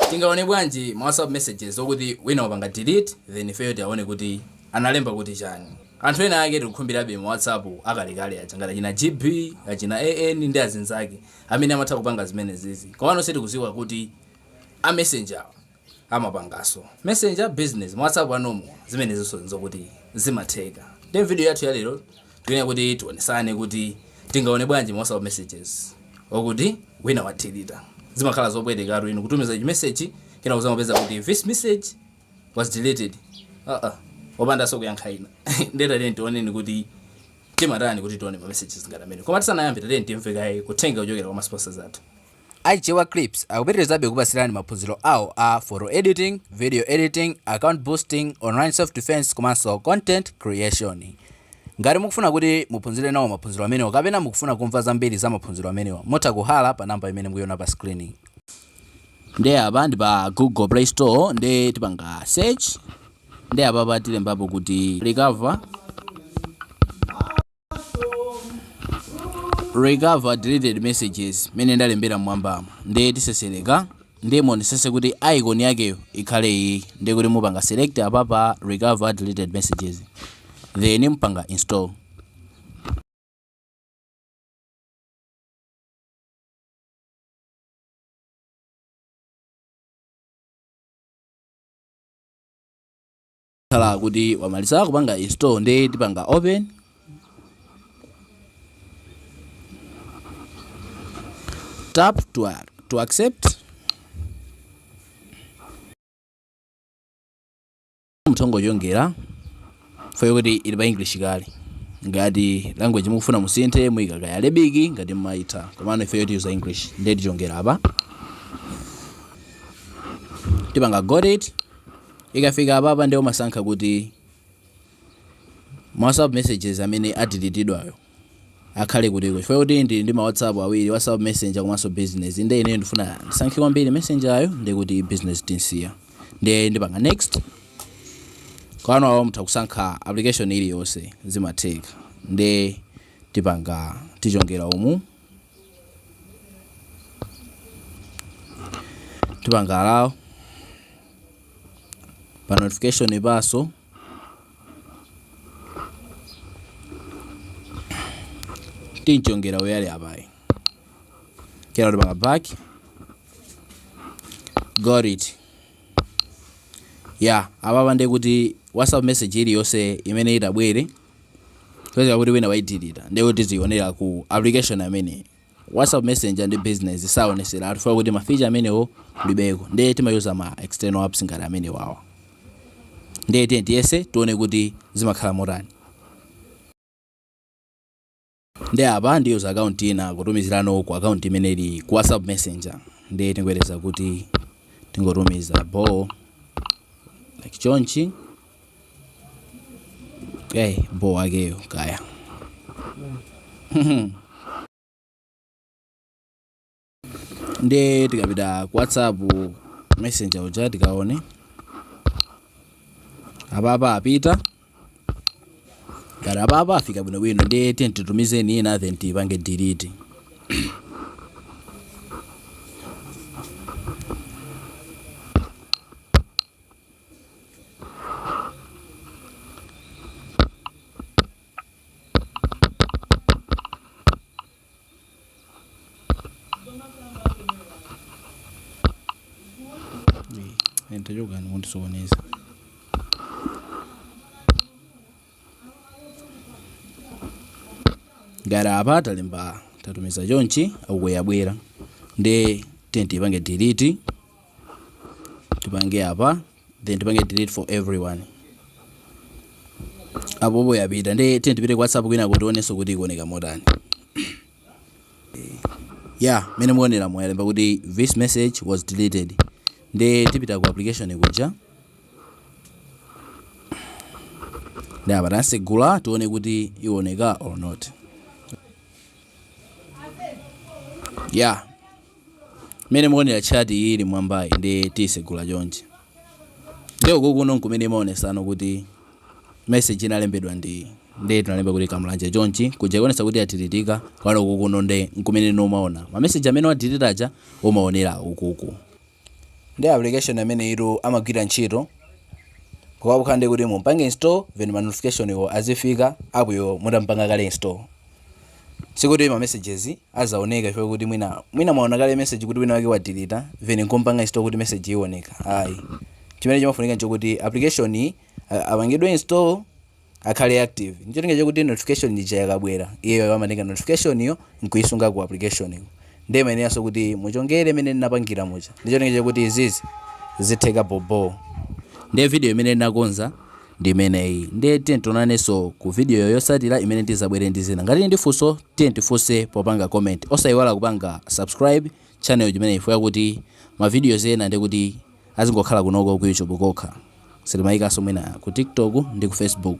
Tingaone bwanji ma whatsapp messages okuti wina wapanga delete then ifeyo tiaone kuti analemba kuti chani? Anthu ena ake tikukhumbirabe ma whatsapp akalekale aja ngati achina GB, achina AN ndi azinzake amene amatha kupanga zimenezizi. Komano sitikuziwa kuti a messenger wo amapangaso messenger business ma whatsapp a normal? Zimenezinso nzokuti zimatheka. Nde mvideo yathu yalero Tikuyenera kuti tionesane kuti tingaone bwanji ma WhatsApp messages okuti wina wadilita. Zimakhala zopwetekatu inu kutumiza chi message kena kuzapeza kuti this message was deleted. Ah ah. Opandanso kuyankha ina. Ndiye tatiyeni tioneni kuti timatani kuti tione ma messages ngati amenewa. Koma tisanayambe tatiyeni timve kaye uthenga wochokera kwa ma sponsors athu. A Chichewa Clips akupitirizabe kukupatsirani maphunziro awo a Photo Editing, Video Editing, Account Boosting, Online Self Defense komanso Content Creation. Ngati mukufuna kuti muphunzire nawo maphunziro amenewa kapena mukufuna kumva zambiri za maphunziro amenewa, mutha kuhalla pa namba imene mukuiona pa screen. Ndi apa ndi pa Google Play Store ndi tipanga search ndi apapa tilembapo kuti recover recover deleted messages mene ndalembera mmwambamo ndiye tisesereka ndiye muonetsetse kuti icon yakeyo ikhale iyi ndiye kuti mupanga select apa pa recover deleted messages then mpanga install khala kuti wamaliza kupanga install nde tipanga open tap to, ac- to accept mutha kungochongera ifeyo kuti ili pa english kale ngati language mukufuna musinthe muika kaya Arabic ngati mmayitha komano ifeyo tiyuza english nde tichongera apa tipanga got it Ikafika apapa nde umasankha kuti ma whatsapp messages amene adilitidwawo akhale kutiko chifukwa choti ndili ndi ma whatsapp awiri whatsapp messenger komanso business nde ineyo ndifuna ndisankhe kwambiri messengerayo nde kuti business tinsiya nde ndipanga next kwa enawo mutha kusankha application iliyonse zimatheka nde tipanga tichongera umu tipanga allow pa notification apaso tinchongera uyali apayi kena tipanga back got it ya apapa ndi kuti whatsapp message iliyonse imene itabwere Peza kuti wina waidilita ndiye kuti tizionera ku application amene WhatsApp Messenger ndi business saonesera chifukwa kuti ma feature amenewo kulibeko ndiye timayuza ma external apps ngati amenewawa ndiye tiyeni tiyese tione kuti zimakhala motani Nde apa ndi user account ina kutumizirano ku account imene ili ku WhatsApp messenger. Nde tingoyerekeza kuti tingotumiza bo like chonchi. Okay, bo wakeyo, kaya. ndiye tikapita ku whatsapp messenger uja tikaone apapa apita ngati apapa afika bwinobwino ndiye tiyeni titumizenso ina then tipange delete Entajogani kundisokoneza. Ngati apa talemba tatumiza chonchi akuyabwera ndi tiyeni tiipange delete tipange apa then tipange delete for everyone apopo yapita nde tiyeni tipite ku whatsapp kwinako tionenso kuti ikuoneka motani ya mene mukuonera muja yalemba kuti this message was deleted nde tipita ku application kuja nde apa tansegula tione kuti ioneka or not ya Mmene mukuonera chat iyi ili mwambayi nde tiyisegula chonchi. Nde uku kuno nkumene imaonesano kuti message inalembedwa ndi iyi. Nde tinalemba kuti Kamlanje chonchi kuja ikuonesa kuti yadhilitika koma uku kuno nde nkumene no umaona. Ma message amene wadhilita aja umaonera ukuku. Nde application ameneyitu amagwira ntchito pokhapokha ndi kuti mumpange install then ma notificationwo azifika appyo mutampanga kale install. sikuti ma messages azaoneka chifukwa kuti mwina mwina mwaona kale message kuti wina wake wadeleta then nkumpanga install kuti message ioneka ayi chimene chimafunika nchokuti application iyi a- apangidwe install akhale active ndicholinga chakuti notification ija yakabwera iyeyo amatenga notification yo nkuisunga ku application ko ndiye mayeneranso kuti muchongere mmene ndinapangira muja ndicholinga chakuti izizi zitheka bobo ndiye video imene ndinakonza ndi imeneyi ndiye tiyeni tionanenso ku video yotsatira imene ndizabwere ndi zina ngati ndi funso tiyeni tifunse popanga comment osayiwala kupanga subscribe channel imeneyi chifukwa chakuti ma videos ena ndi kuti azingokhala kunoko ku YouTube kokha sitimayikanso mwina ku TikTok ndi ku Facebook